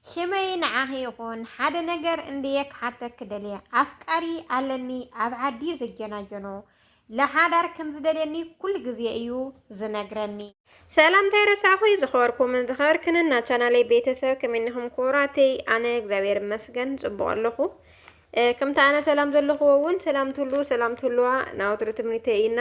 ሽመይ ንዓኺ ይኹን ሓደ ነገር እንድየ ክሓተኪ ደልየ ኣፍቃሪ ኣለኒ ኣብ ዓዲ ዝጀናጀኖ ለሓዳር ከም ዝደልየኒ ኩሉ ግዜ እዩ ዝነግረኒ ሰላምታይ ረሳዕኹይ ዝኸበርኩምን ዝኸበርክንን ናብ ቻናለይ ቤተሰብ ከመይ እኒኹም ክቡራተይ? ኣነ እግዚኣብሔር ይመስገን ፅቡቕ ኣለኹ። ከምቲ ኣነ ሰላም ዘለኹዎ እውን ሰላም ትህልዉ ሰላም ትህልዋ ናወትሩ ትምኒተይ እይና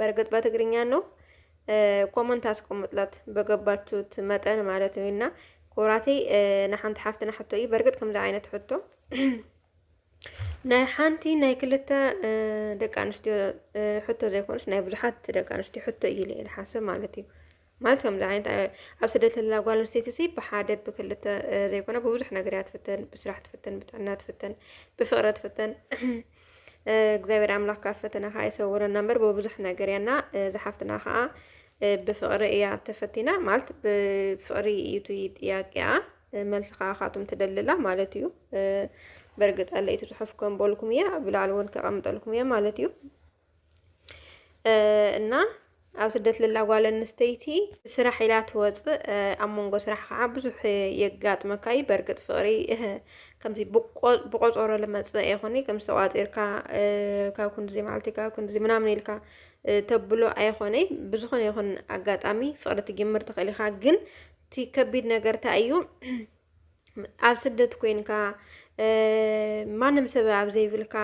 በርግጥ በትግርኛ ነው ኮመንት ኣስቀምጥላት በገባችሁት መጠን ማለት እዩ እና ኩራተይ ንሓንቲ ሓፍትና ሕቶ እዩ በርግጥ ከምዚ ዓይነት ሕቶ ናይ ሓንቲ ናይ ክልተ ደቂ ኣንስትዮ ሕቶ ዘይኮነስ ናይ ብዙሓት ደቂ ኣንስትዮ ሕቶ እዩ ኢለ ሓስብ ማለት እዩ ማለት ከምዚ ዓይነት ኣብ ስደት ዘላ ጓል ኣንስተይቲ ሲ ብሓደ ብክልተ ዘይኮነ ብብዙሕ ነገር እያ ትፍተን ብስራሕ ትፍተን ብጥዕና ትፍተን ብፍቅሪ ትፍተን እግዚኣብሔር ኣምላክ ካብ ፈተና ከዓ ይሰውረና እምበር ብብዙሕ ነገር እያና ዝሓፍትና ከዓ ብፍቅሪ እያ ተፈቲና ማለት ብፍቅሪ እዩ እቲ ጥያቄያ መልሲ ከዓ ካቱም ትደልላ ማለት እዩ በርግጥ ኣለይቲ ጽሑፍ ከምበልኩም እያ ብላዕሊ እውን ከቐምጠልኩም እያ ማለት እዩ እና ኣብ ስደት ለላ ጓል ኣንስተይቲ ስራሕ ኢላ ትወፅእ ኣብ መንጎ ስራሕ ከዓ ብዙሕ የጋጥመካ እዩ በእርግጥ ፍቅሪ ከምዚ ብቆፀሮ ልመፅእ ኣይኮነ ከም ዝተቋፂርካ ካብ ክንድዚ መዓልቲ ካብ ክንድዚ ምናምን ኢልካ ተብሎ ኣይኮነ ብዝኾነ ይኹን ኣጋጣሚ ፍቅሪ ትጅምር ትኽእል ኢኻ ግን እቲ ከቢድ ነገር እንታይ እዩ ኣብ ስደት ኮንካ ማንም ሰብ ኣብ ዘይብልካ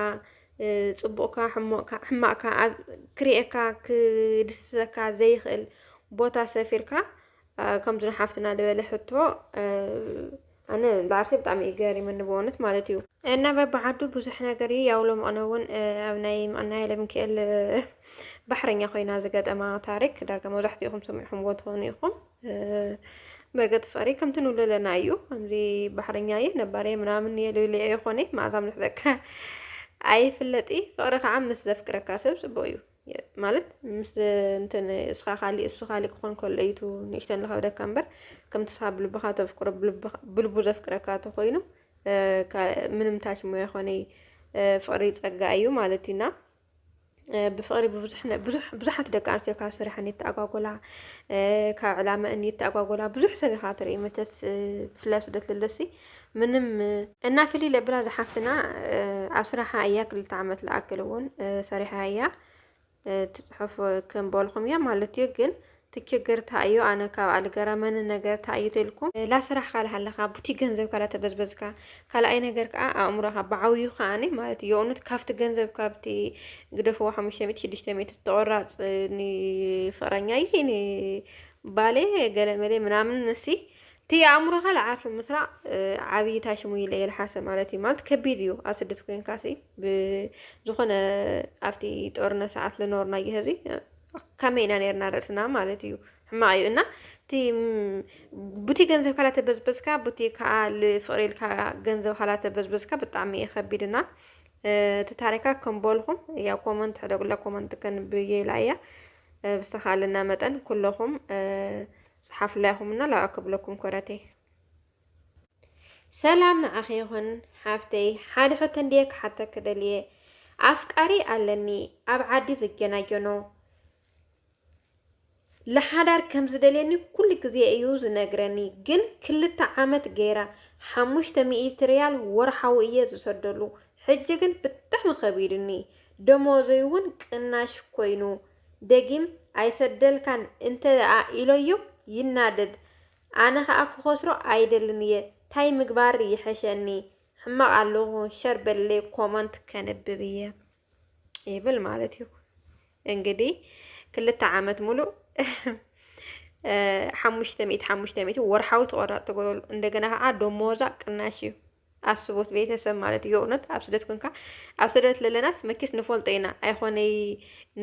ፅቡቕካ ሕሞቕካ ሕማቕካ ኣብ ክርኤካ ክድስሰካ ዘይኽእል ቦታ ሰፊርካ ከምዚ ሓፍትና ዝበለ ሕቶ ኣነ ብዓርሰይ ብጣዕሚ እዩ ገሪሙኒ ብእውነት ማለት እዩ እና በብዓዱ ብዙሕ ነገር እዩ ያው ሎምቕነ እውን ኣብ ናይ ምቕና ለምክኤል ባሕረኛ ኮይና ዝገጠማ ታሪክ ዳርጋ መብዛሕትኡ ኢኹም ሰሚዕኹምዎ ትኾኑ ኢኹም በገጥ ፈሪ ከምቲ ንብሎ ኣለና እዩ ከምዚ ባሕረኛ እየ ነባሪ ምናምን እየ ልብል እየ ኮነ መዓዛ ምልሕዘካ ኣይፍለጥ እዩ ፍቅሪ ከዓ ምስ ዘፍቅረካ ሰብ ፅቡቅ እዩ ማለት ምስ እንትን እስኻ ካሊእ እሱ ካሊእ ክኾን ከሎ እዩ ንእሽተን ዝኸብደካ እምበር ከምቲ እስኻ ብልብኻ ተፍቅሮ ብልቡ ዘፍቅረካ ተኮይኑ ምንም ታች ሞ ይኮነ ፍቅሪ ፀጋ እዩ ማለት እዩና ብፍቕሪ ብዙሓት ደቂ ኣንስትዮ ካብ ስርሐን የተኣጓጎላ ካብ ዕላመአን የተኣጓጎላ ብዙሕ ሰብ ኢኻ ትርኢ መቸስ ብፍላይ ስደት ለለሲ ምንም እና ፍልይ ለብላ ዝሓፍትና ኣብ ስራሓ እያ ክልተ ዓመት ልኣክል እውን ሰሪሓ እያ ትፅሑፍ ክንበልኹም እያ ማለት እዩ ግን እቲ ችግር ታይ እዩ ኣነ ካብኣ ልገረመኒ ነገር ታይ እዩ ተልኩም ላስራሕካ ላሃለካ ቡቲ ገንዘብካ ላተበዝበዝካ ካላኣይ ነገር ካኣ ኣእምሮካ ባዓብዩ ካኣኒ ማለት የኡነት ካብቲ ገንዘብ ካብቲ ግደፍዋ ሓሙሽተ ሚእቲ ሽዱሽተ ሚእቲ ተቆራፅ ንፍቅረኛይ ን ባሌ ገለ መሌ ምናምን ንሲ እቲ ኣእምሮካ ላዓርሱ ምስራዕ ዓብይ ታሽሙ ይለ የልሓሰ ማለት እዩ ማለት ከቢድ እዩ ኣብ ስደት ኮንካሲ ብዝኮነ ኣብቲ ጦርነት ሳዓት ልኖርናዮ ህዚ ከመይ ኢና ነርና ርእስና ማለት እዩ ሕማቅ እዩ እና እቲ ቡቲ ገንዘብ ካላ ተበዝበዝካ ቡቲ ከዓ ልፍቅሪ ኢልካ ገንዘብ ካላ ተበዝበዝካ ብጣዕሚ እዩ ከቢድ እና እቲ ታሪካ ከምበልኩም ያው ኮመንት ሕደጉላ ኮመንት ከንብየ ኢላ እያ ብዝተካለና መጠን ኩለኹም ፀሓፉላ ኢኹም እና ላይክ ክብለኩም ኮረተይ ሰላም ንዓኺ ይኹን ሓፍተይ፣ ሓደ ሕቶ እንድየ ክሓተኪ ደልየ። ኣፍቃሪ ኣለኒ ኣብ ዓዲ ዝጀናጀኖ ለሓዳር ከም ዝደልየኒ ኩሉ ግዜ እዩ ዝነግረኒ፣ ግን ክልተ ዓመት ገይራ ሓሙሽተ ሚእቲ ሪያል ወርሓዊ እየ ዝሰደሉ። ሕጂ ግን ብጣዕሚ ከቢዱኒ፣ ደሞዘይ እውን ቅናሽ ኮይኑ ደጊም ኣይሰደልካን እንተደኣ ኢለዮ ይናደድ። ኣነ ከኣ ክከስሮ ኣይደልን እየ ታይ ምግባር ይሐሸኒ ሕማቅ ኣለኩ ሸር በልለይ ኮሞንት ከንብብ እየ ይብል ማለት እዩ እንግዲ ክልተ ዓመት ሙሉእ ሓሙሽተ ሚእቲ ሓሙሽተ ሚእቲ ወርሓዊ ተቆራር ተገብረሉ እንደገና ከዓ ደሞዛ ቅናሽ እዩ ኣስቡት ቤተሰብ ማለት እዩ እውነት ኣብ ስደት ኮንካ ኣብ ስደት ለለናስ መኪስ ንፈልጦ ኢና ኣይኾነይ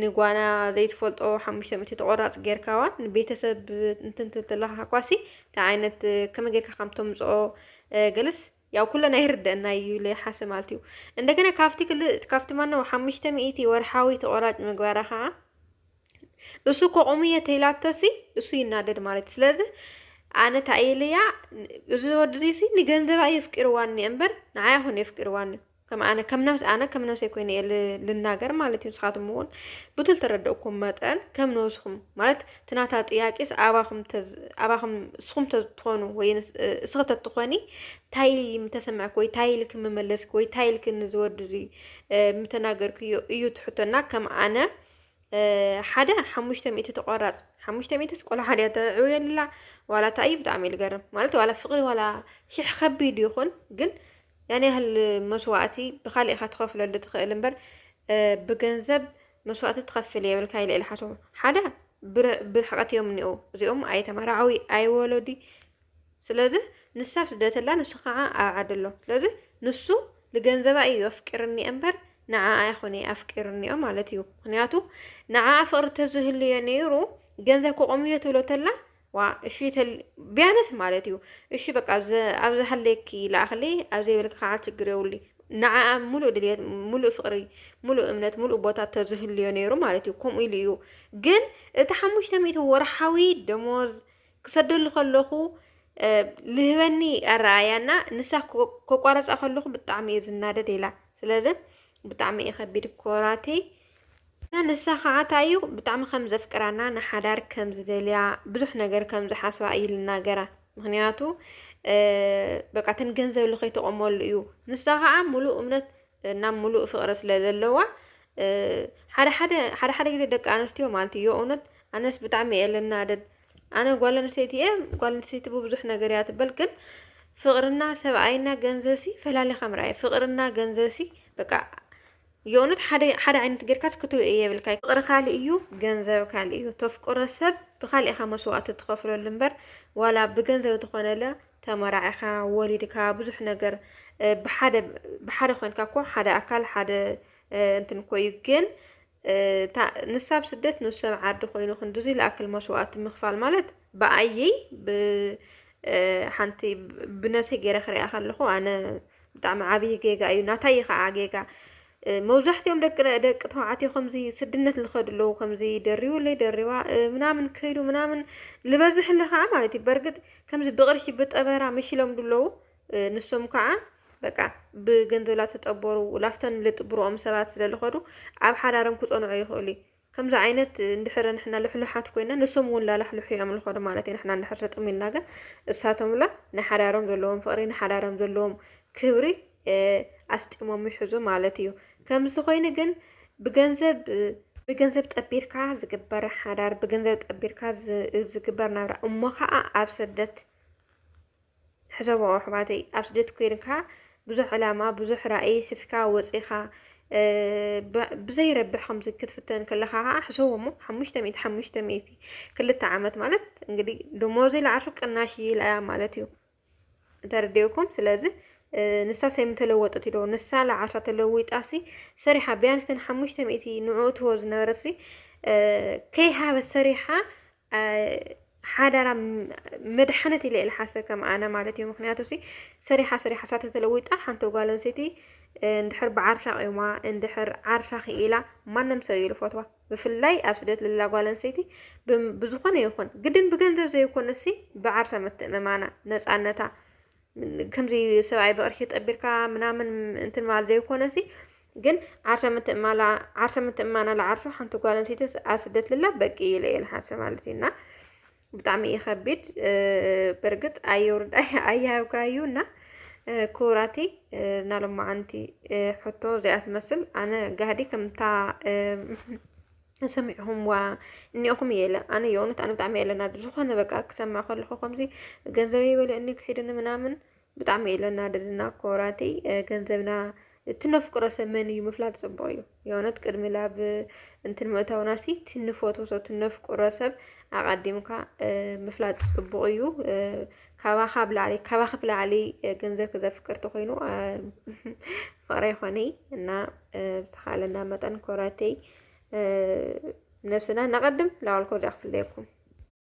ንጓና ዘይትፈልጦ ሓሙሽተ ሚእቲ ተቆራፅ ጌርካዋን ንቤተሰብ እንትን ትብል ተለካ ኳሲ እንታይ ዓይነት ከመይ ጌርካ ከም ተምፅኦ ገለስ ያው ኩለን ኣይርደአና እዩ ለይሓሰ ማለት እዩ እንደገና ካብቲ ክል ካብቲ ማነው ሓሙሽተ ሚእቲ ወርሓዊ ተቆራጭ ምግባራ ከዓ እሱ እኮ ቁሙ የተይላተሲ እሱ ይናደድ ማለት ስለዚ ኣነ እንታይ እየ ኢለያ እዚ ወዲ እዚሲ ንገንዘባ እዩ ኣፍቂርዋ እኒአ እምበር ንዓይ ኣይኮነ የፍቂርዋ እኒኦ ከም ኣነ ከም ነብስ ኣነ ከም ነብሰይ ኮይነ እየ ል- ልናገር ማለት እዩ ንስኻትኩም እውን ብቱ ዝተረደእኩም መጠን ከም ነብስኹም ማለት ትናታ ጥያቄስ ኣባኹም ተዝ- ኣባኹም እስኹም ተትኾኑ ወይ ንስ- እስኺ ተትኾኒ እንታይ ምተሰማዕክ ወይ እንታይ ኢልክ ምመለስክ ወይ እንታይ ኢልክ ንዝወዲ እዚ ምተናገርክዮ እዩ ትሕቶና ከም ኣነ ሓደ ሓሙሽተ ሚእቲ ተቆራጽ ሓሙሽተ ሚእቲ ቆልዓ ድያ ተዕውየልላ ዋላ እንታይ እዩ ብጣዕሚ እዩ ዝገርም ማለት ዋላ ፍቅሪ ዋላ ሽሕ ከቢድ ይኹን ግን ያን ያህል መስዋእቲ ብካሊእ ኢኻ ትኸፍለሉ ትኽእል እምበር ብገንዘብ መስዋእቲ ትኸፍል የብልካ ኢለ ኢለ ሓደ ብርሕቀት እዮም እኒኡ እዚኦም ኣይተመራዓዊ ኣይወለዲ ስለዚ ንሳ ኣብ ስደት ኣላ ንሱ ካዓ ኣብ ዓዲ ኣሎ ስለዚ ንሱ ልገንዘባ ኢዩ ኣፍቂርኒ እምበር ንዓኣ ኣይኮነይ ኣፍቂርኒኦ ማለት ኢዩ ምክንያቱ ንዓኣ ፍቅሪ ተዝህልዮ ነይሩ ገንዘብ ከቆምዮ ትብሎ ተላ ዋ እሺ ቢያነስ ማለት ኢዩ እሺ በቃ ኣብ ዝሃለየኪ ላኣክለይ ኣብ ዘይበልኪ ካዓ ችግር የብሉ ንዓኣ ሙሉእ ድልየት ሙሉእ ፍቅሪ ሙሉእ እምነት ሙሉእ ቦታ ተዝህልዮ ነይሩ ማለት ኢዩ ከምኡ ኢሉ ኢዩ ግን እቲ ሓሙሽተ ሚእቲ ወርሓዊ ደሞዝ ክሰደሉ ከለኹ ልህበኒ ኣረኣያ እና ንሳ ከቋረፃ ከለኹ ብጣዕሚ እየ ዝናደድ ኢላ ስለዚ ብጣዕሚ እዩ ከቢድ ኮራተይ እና ንሳ ከዓ እንታይ እዩ ብጣዕሚ ከም ዘፍቅራና ንሓዳር ከም ዝደልያ ብዙሕ ነገር ከም ዝሓስባ እዩ ልናገራ ምክንያቱ በቃ እተን ገንዘብ ልከይተቆመሉ እዩ ንሳ ከዓ ሙሉእ እምነት እና ሙሉእ ፍቅሪ ስለ ዘለዋ ሓደ ሓደ ሓደ ሓደ ግዜ ደቂ ኣንስትዮ ማለት እዩ የእውነት ኣነስ ብጣዕሚ እየ ልናደድ ኣነ ጓል ኣንስተይቲ እየ ጓል ኣንስተይቲ ብብዙሕ ነገር እያ ትበል ግን ፍቅርና ሰብኣይና ገንዘብሲ ፈላሊኻ ምርኣይ ፍቅርና ገንዘብሲ በቃ የእውነት ሓደ ሓደ ዓይነት ጌርካስ ክትርኢ የብልካ ፍቅሪ ካልእ እዩ ገንዘብ ካልእ እዩ ተፍቅሮ ሰብ ብካልእኻ መስዋእቲ ትኸፍለሉ እምበር ዋላ ብገንዘብ ዝኾነለ ተመራዒኻ ወሊድካ ብዙሕ ነገር ብሓደ ብሓደ ኮንካ እኮ ሓደ ኣካል ሓደ እንትን እኮ እዩ ግን እታ ንሳ ኣብ ስደት ንሱ ኣብ ዓዲ ኮይኑ ክንድዚ ልኣክል መስዋእቲ ምኽፋል ማለት ብኣየይ ብ ሓንቲ ብነብሰይ ገይረ ክሪኣ ከለኹ ኣነ ብጣዕሚ ዓብዪ ጌጋ እዩ ናታይ እዩ ከዓ ጌጋ መብዛሕትኦም ደቂ ደቂ ተባዕትዮ ከምዚ ስድነት ዝኸዱ ኣለዉ ከምዚ ደሪቡለይ ደሪባ ምናምን ከይዱ ምናምን ዝበዝሕ ኣሎ ከዓ ማለት እዩ በርግጥ ከምዚ ብቅርሺ ብጠበራ መሽሎም ድለዉ ንሶም ከዓ በቃ ብገንዘብ ላተጠበሩ ላፍተን ልጥብርኦም ሰባት ስለልኸዱ ኣብ ሓዳሮም ክፀንዑ ይኽእሉ እዩ። ከምዚ ዓይነት እንድሕር ንሕና ልሕሉሓት ኮይና ንሶም እውን ላላሕልሑ እዮም ልኸዱ ማለት እዩ ንሕና እንድሕር ሰጥም ኢልና ግን እሳቶም ላ ንሓዳሮም ዘለዎም ፍቕሪ ንሓዳሮም ዘለዎም ክብሪ ኣስጢሞም ይሕዙ ማለት እዩ ከምዚ ኮይኑ ግን ብገንዘብ ብገንዘብ ጠቢርካ ዝግበር ሓዳር ብገንዘብ ጠቢርካ ዝግበር ናብራ እሞ ከዓ ኣብ ስደት ሕሰቦ ኣሕዋተይ ኣብ ስደት ኮይንካ ብዙሕ ዕላማ ብዙሕ ራእይ ሕዝካ ወፂኻ ብዘይረብሕ ከምዚ ክትፍተን ከለካ ከዓ ሕሰቦ እሞ ሓሙሽተ ሚእቲ ሓሙሽተ ሚእቲ ክልተ ዓመት ማለት እንግዲህ ደሞዝ ይልዓሱ ቅናሽ ይልያ ማለት እዩ ተረዲኡኩም ስለዚ ንሳስ ኣይምተለወጠት ኢዶ ንሳ ልዓሳ ተለዊጣሲ ሰሪሓ ቢያንስ ተን ሓሙሽተ ሚእቲ ንዕኡ ትህቦ ዝነበረሲ ከይሃበት ሰሪሓ ሓዳራ መድሓነት ኢለ ኢለ ሓሰ ከም ኣነ ማለት እዩ ምክንያቱ ሲ ሰሪሓ ሰሪሓ ሳተ ተለዊጣ ሓንቲ ጓል ኣንሰይቲ እንድሕር ብዓርሳ ቂማ እንድሕር ዓርሳ ክኢላ ማንም ሰብ እዩ ዝፈትዋ ብፍላይ ኣብ ስደት ልላ ጓል ኣንሰይቲ ብዝኾነ ይኹን ግድን ብገንዘብ ዘይኮነሲ ብዓርሳ ምትእምማና ነፃነታ ከምዚ ሰብኣይ ብቕርሺ ጠቢርካ ምናምን እንትን ማለት ዘይኮነሲ ግን ዓርሰ ምትእማላ ዓርሰ ምትእማና ለዓርሱ ሓንቲ ጓል ኣንስተይቲ ኣብ ስደት ልላ በቂ ኢለ እየ ልሓሰ ማለት እዩ እና ብጣዕሚ እዩ ከቢድ በርግጥ ኣየውርድ ኣያብካ እዩ እና ክቡራቲ እና ሎማዓንቲ ሕቶ እዚኣ ትመስል ኣነ ጋህዲ ከምታ ሰሚዕኹምዋ እኒኦኹም እየ ኢለ ኣነ የእውነት ኣነ ብጣዕሚ እየ ለናዱ ዝኾነ በቃ ክሰምዕ ከለኹ ከምዚ ገንዘበይ በልዕኒ ክሒድኒ ምናምን ብጣዕሚ እየ ለናደድና ኮራተይ ገንዘብና እቲ ነፍቅሮ ሰብ መን እዩ ምፍላጥ ፅቡቅ እዩ የእውነት ቅድሚ ላብ እንትን ምእታውና ሲ እቲ ንፈትዎ ሰብ እቲ ነፍቅሮ ሰብ ኣቀዲምካ ምፍላጥ ፅቡቅ እዩ ካባኻ ብላዕሊ ካባኺ ብላዕሊ ገንዘብ ክዘፍቅር ተኮይኑ ፍቅሪ ይኾነይ እና ብዝተኻለና መጠን ኮራተይ ነብስና ነቐድም ላዋልኮ ዳክፍለየኩም